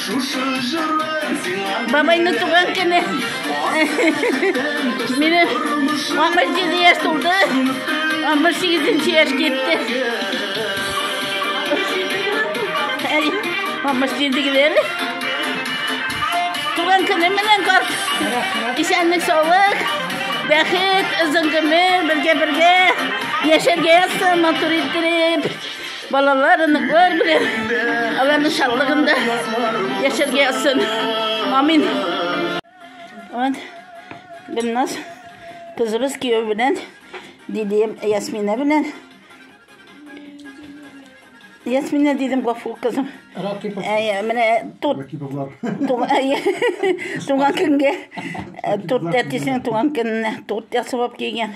Шушы җырын сиңа Бабайны туган көне. Мине 67 яшь тулды. 68 яшь китте. Әй, 67 геләр. Туган көне менән кар. Исәнлек саулык. Бәхет, озын гомер, бергә-бергә яшәргә язсын матур иттереп. Балалар, оныклар белән аларның шатлыгында яшәргә язсын. Амин. Вот. Гөлназ кызыбыз кияү белән дидем Ясмина белән. Ясмина дидем гафу кызым. Ракипов. Ә, менә тут Ракиповлар. туган көнгә э, торт әтисенең туган көненә торт ясап кигән.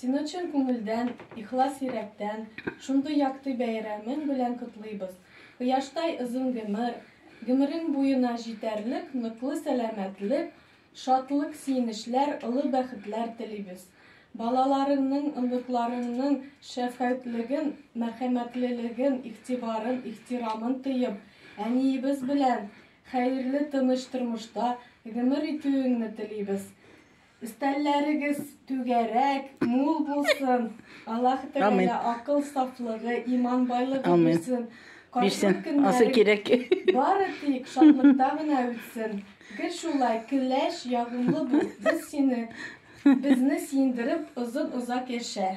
Сине чын күңелдән, ихлас йөрәктән шундый якты бәйрәмең белән котлыйбыз. Кояштай озын гомер, гомерең буена җитәрлек ныклы сәламәтлек, шатлык-сөенечләр, олы бәхетләр телибез. Балаларыңның, оныкларыңның шәфкатьлеген, мәрхәмәтлелеген, игътибарын, ихтирамын тоеп, әниебез белән хәерле, тыныч тормышта гомер итүеңне телибез. Өстәлләрегез түгәрәк, мул булсын. Аллаһ Тәгалә акыл сафлыгы, иман байлыгы бирсен. Бирсен. Асы кирәк. Бары тик шатлыкта гына үтсен. Гел шулай көләч, ягымлы бул. Без сине, безне сиендереп, озын-озак яшә.